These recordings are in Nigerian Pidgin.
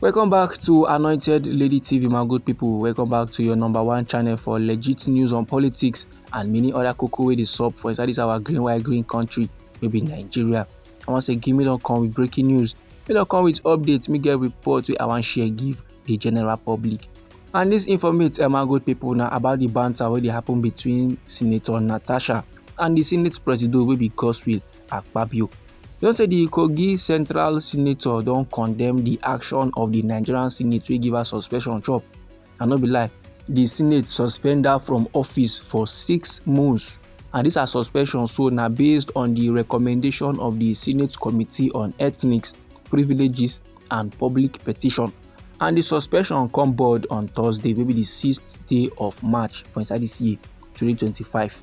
welcome back to anointed lady tv my good people welcome back to your number one channel for legit news on politics and many other cocoa wey dey sup for inside this our green white green country wey be nigeria i wan say gimme don come with breaking news me don come with updates me get report wey i wan share give the general public and this informate um, my good people na about the banter wey dey happen between senator natasha and the senate president wey be godswill Akpabio. You know say the Kogi Central Senator don condemn the action of the Nigerian Senate wey give her suspension chop. I no be lie, the Senate suspend her from office for six months and this her suspension so na based on the recommendation of the Senate Committee on Ethnics, Privileges and Public Petition and the suspension come board on Thursday wey be the sixth day of March for inside this year 2025.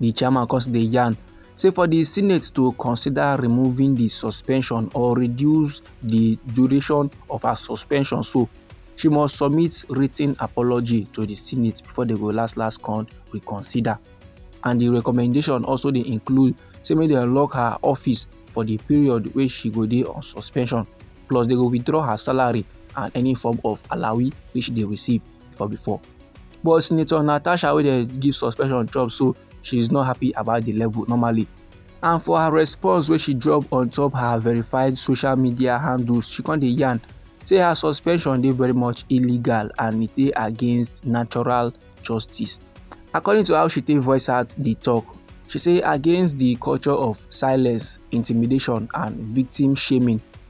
di chairman come dey yarn say for di senate to consider removing di suspension or reduce di duration of her suspension so she must submit written apology to di senate before dem go last last con reconsider and di recommendation also dey include say make dem lock her office for di period wey she go dey on suspension plus dem go withdraw her salary and any form of alawi wey she dey receive before before But Senator Natasha wey dem give suspension chop so she is not happy about the level normally. And for her response wey she drop on top her verified social media handles, she come dey yarn say her suspension dey very much illegal and e dey against natural justice. According to how she take voice out the talk, she say against the culture of silence, intimidation and victim shaming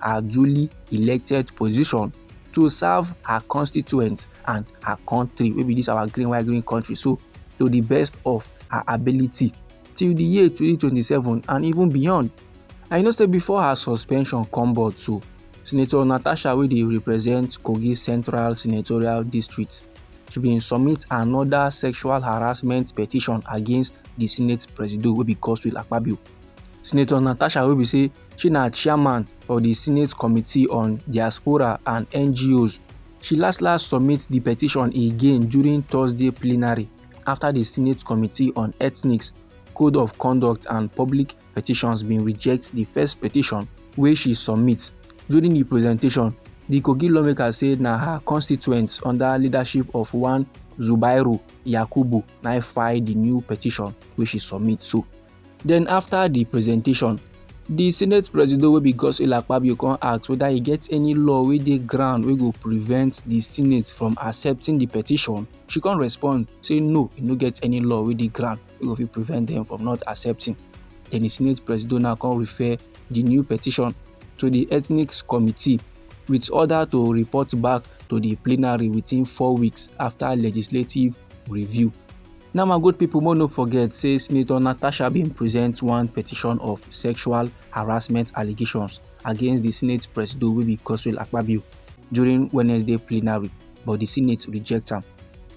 her duly elected position to serve her constituents and her country wey be this our green white green country so to the best of her ability till the year 2027 and even beyond and you know say before her suspension come board so senator natasha wey dey represent kogi central senatorial district she bin submit another sexual harassment petition against the senate presido wey be godswill akpabio senator natasha wey be say She na chairman for di Senate Committee on Diaspora and NGOs. She last last submit di petition again during Thursday plenary after di Senate Committee on Ethnics, Code of Conduct and Public Petitions bin reject di first petition wey she submit. During di presentation, di Kogi lawmaker say na her constituents under leadership of one Zubairu Yakubu na file di new petition wey she submit so. Then after the presentation, the Senate Presido wey be Godswill Akpabio come ask whether e get any law wey dey ground wey go prevent the Senate from accepting the petition. She come respond say no, e no get any law wey dey ground wey go fit prevent them from not accepting. Then the Senate Presido now come refer the new petition to the Ethnics Committee with order to report back to the plenary within four weeks after legislative review. Now, my good people, more no forget, say Senator Natasha bin present one petition of sexual harassment allegations against the Senate Presido wey be Godswill Akpabio during Wednesday plenary, but the Senate reject am.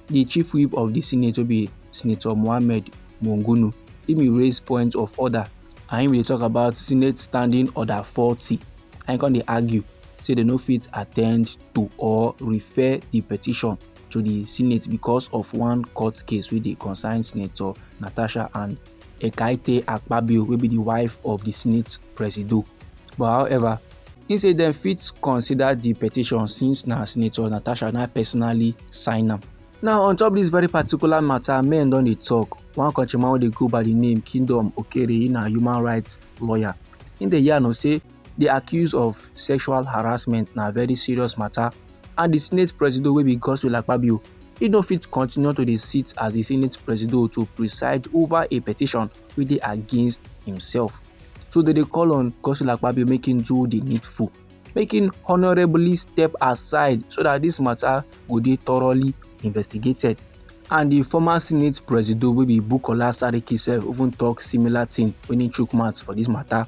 The chief whip of the Senate wey be Senator Mohammed Mungunu, im bin raise point of order and im bin talk about Senate Standing Order 40 and im come dey argue say dem no fit attend to or refer the petition to di senate because of one court case wey dey concern senator natasha and ekaette akpabio wey be di wife of di senate presido but however he say dem fit consider di petition since na senator natasha na personally sign am. now on top dis very particular matter men don dey talk one countryman wey dey go by di name kingdom okere he na human rights lawyer he dey yarn o say di accuse of sexual harassment na very serious matter and di senate presido wey be godswill akpabio e no fit continue to dey sit as di senate presido to preside over a petition wey dey against himself so dem dey call on godswill akpabio make him do di needful make him honourably step aside so dat dis mata go dey thoroughly investigated and di former senate presido wey be bukola saraki sef even tok similar tin wen he chook mouth for dis mata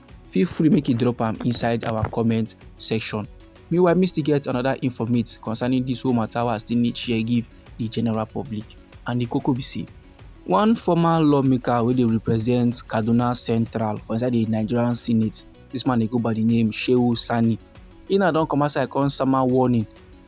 feel free make you drop am inside our comment section meanwhile me still get another informate concerning this whole matter wey i still need share give the general public and the koko be say one former lawmaker wey dey represent kaduna central for inside the nigerian senate this man dey go by the name shehu sani he na don come outside come sama warning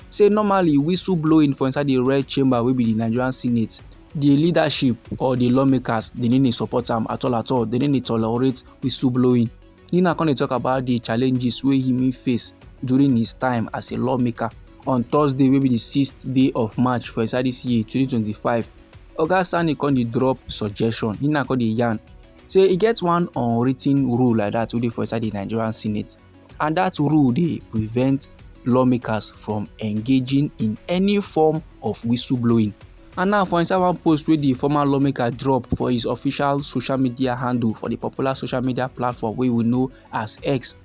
say normally whistle blowing for inside the red chamber wey be the nigerian senate the leadership or the lawmakers they no dey support am at all at all they no dey tolerate whistleblowing. He now come dey talk about the challenges wey he face during his time as a lawmaker. On Thursday wey be the sixth day of March for inside this year 2025, Oga Sani come dey drop suggestion. He now come dey yarn say e get one unwritten rule like that wey dey for inside the Nigerian Senate and dat rule dey prevent lawmakers from engaging in any form of whistleblowing. And now for inside one post wey di former lawmaker drop for his official social media handle for di popular social media platform wey we know as X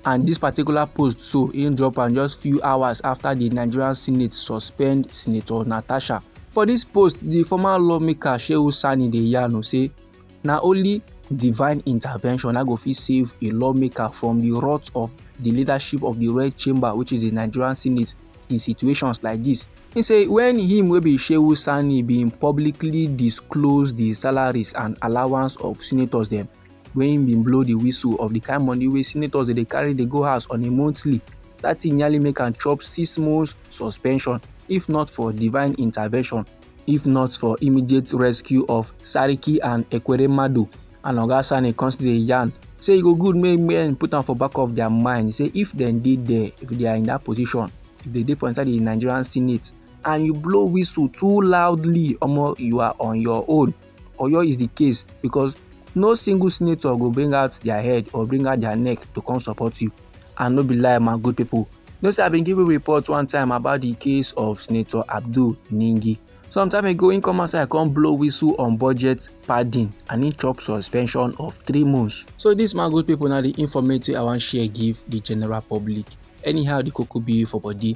and dis particular post so im drop am just few hours afta di nigerian senate suspend senator natasha. For dis post di former lawmaker Shehu Sani dey yarn o say Na only divine intervention na go fit save a lawmaker from the wrath of the leadership of the Red Chamber, which is the Nigerian Senate, in situations like this. He say when him wey be Shehu Sani bin publicly disclose the salaries and allowance of senators dem, wey him bin blow the whistle of the kind money wey senators dey carry dey go house on a monthly, that thing nearly make am chop six months suspension if not for divine intervention. if not for immediate rescue of sariki and ekweremadu and oga sani come still dey yarn say e go good make men put am for back of their mind say if dem dey there if they are in that position if they dey for inside the nigerian senate and you blow whistle too loudly omo you are on your own Oyo is the case because no single senator go bring out their head or bring out their neck to come support you and no be lie my good people no say i bin give you report one time about the case of senator abdul ningi some time ago he come outside come blow whistle on budget padding and he chop suspension of three months. so this my good people na the informate i wan share give the general public anyhow the koko be for body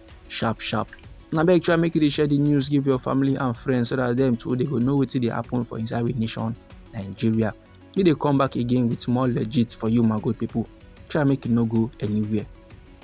sharp sharp na beg try make you dey share the news give your family and friends so that them too they go know wetin dey happen for inside we nation nigeria we dey come back again with more legit for you my good people try make you no go anywhere.